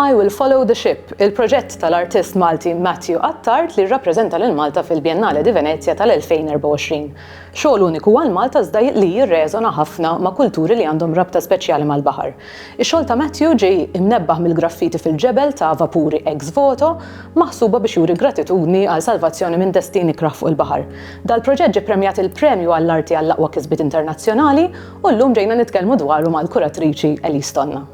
I Will Follow the Ship, il-proġett tal-artist Malti Matthew Attard li rrappreżenta lil Malta fil-Biennale di Venezia tal-2024. Xogħol uniku għal Malta iżda li jirreżona ħafna ma' kulturi li għandhom rabta speċjali mal-baħar. Ix-xogħol ta' Matthew ġie imnebbaħ mill-graffiti fil-ġebel ta' vapuri ex voto maħsuba biex juri gratitudni għal salvazzjoni minn destin ikrah fuq il-baħar. Dal-proġett ġie ppremjat il-Premju għall-Arti għall-Aqwa Kisbiet Internazzjonali u llum ġejna nitkellmu dwaru mal-kuratriċi Elise Tonna.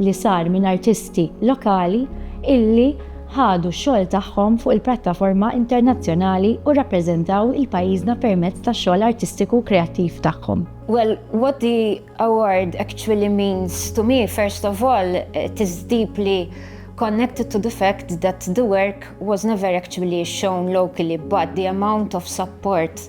li sar minn artisti lokali illi ħadu x-xogħol tagħhom fuq il-prattaforma internazzjonali u rrappreżentaw il-pajjiżna permezz tax-xogħol artistiku u kreattiv tagħhom. Well, what the award actually means to me, first of all, it is deeply connected to the fact that the work was never actually shown locally, but the amount of support